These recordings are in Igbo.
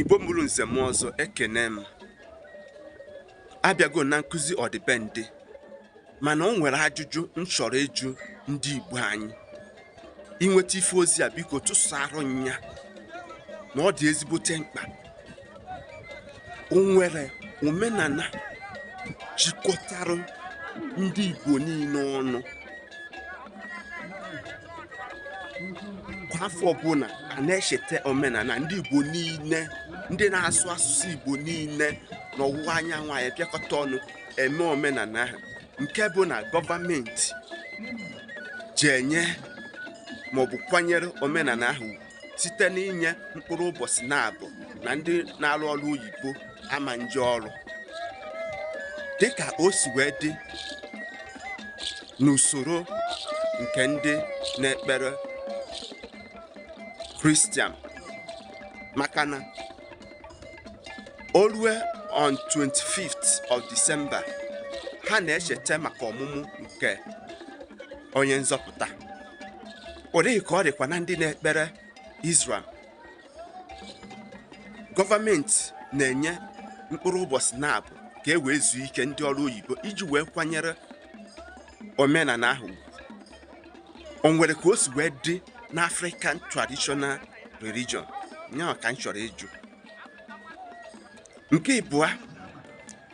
Igbo mụrụ nze mụọ ọzọ ekene m abịago na nkụzi ọdịbendị mana o nwere ajụjụ m chọrọ ịjụ ndị Igbo anyị i nweta ife ozi a biko tụsara nya na ọ dị ezigbote mkpa o nwere omenala jikọtara ndị Igbo niile ọnụ kwa afọ ọbụla a na-echeta omenala ndị Igbo niile ndị na-asụ asụsụ Igbo niile n'ọwụwa anyanwụ anyị abịakọta ọnụ eme omenala ahụ nke bụ na gọọmenti ji enye maọbụ kwanyere omenala ahụ site n'inye mkpụrụ ụbọchị na-abụ na ndị na-arụ ọrụ oyibo ama nje ọrụ dịka o si wee dị n'usoro nke ndị na-ekpere kristian maka na o lue on 25th of December ha na-echeta maka ọmụmụ nke onye nzọpụta ụdị ahụ ka ọ dịkwa na ndị na-ekpere Islam gọọmenti na-enye mkpụrụ ụbọchị na-abụ ka e wee zuo ike ndị ọrụ oyibo iji wee kwanyere omenala ahụ o nwere ka o si wee dị n'African traditional religion ya ka m chọrọ ịjụ nke ịbụa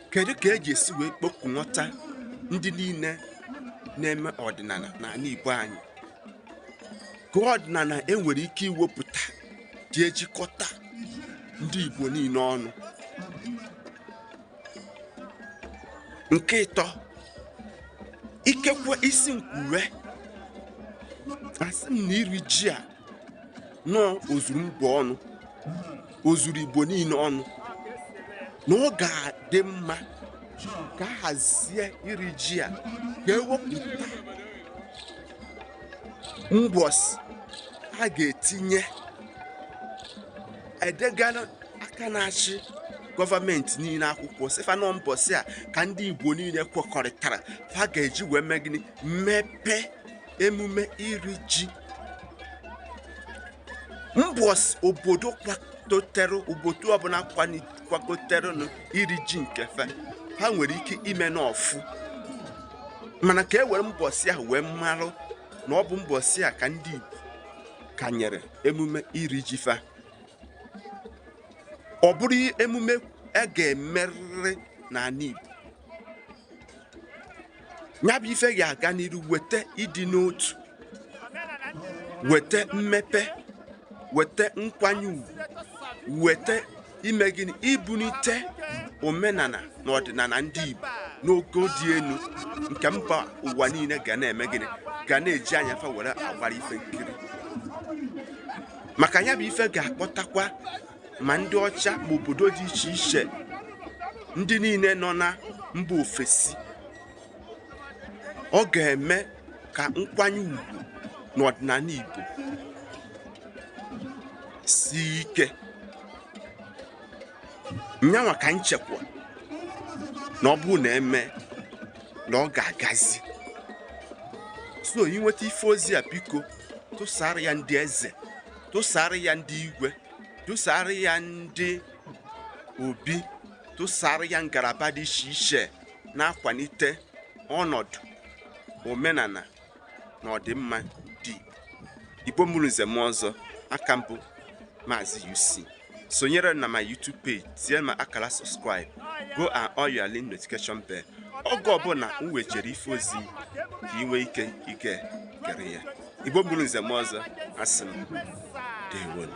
kedu ka e ji esi wee kpọkunọta ndị niile na-eme ọdịnala n'ala Igbo anyị ka ọdịnala e nwere ike iwepụta ji ejikọta ndị Igbo niile ọnụ nke ịtọ ikekwe ị sị m kwuwe asị m na iri ji a na o zuru mba ọnụ o zuru igbo niile ọnụ na ọ ga-adị mma ka a hazie iri ji a ka e wepụta mbọsị a ga-etinye e degara aka na-achị gọọmenti niile akwụkwọ sị fa na ọ mbọsị a ka ndị igbo niile kwekọrịtara fa ga-eji wee mee gịnị mmepe emume iri ji mbọsị obodo obodo ọbụla kwadoterenụ iri ji nke fa ha nwere ike ime n'ọfụ mana ka e were mbọsị ahụ wee marụ na ọ bụ mbọsị a ka ndị Igbo kanyere emume iri ji fa ọ bụrụ emume a ga-emerịrị n'ala Igbo ya bụ ife ga-aga n'iru wete ịdị n'otu wete mmepe wete nkwanye ugwu weta ime gịnị ibunite omenana na ọdịnana ndị Igbo n'ogo dị enu nke mba ụwa niile ga na-eme gịnị ga na-eji anya fa were agbara ife nkiri maka ya bụ ife ga-akpọtakwa ma ndị ọcha ma obodo dị iche iche ndị niile nọ na mba ofesi ọ ga-eme ka nkwanye ugwu n'ọdịnana Igbo sie ike nyanwa ka m chekwa na ọ bụrụ na e mee na ọ ga-agazi so ị nweta ife ozi a biko tụsara ya ndị eze tụsara ya ndị igwe tụsara ya ndị obi tụsara ya ngalaba dị iche iche na-akwanite ọnọdụ omenana na ọdịmma ndị Igbo mụrụ nze mụọ ọzọ aka m bụ Maazị UC sonyere na my YouTube page tie ma akara subscribe go and on your link notification bell oge ọbụna m wetere ife ozi ka ị nwee ike ige gere ya Igbo mụrụ nze mụọ ọzọ asị m ndewonụ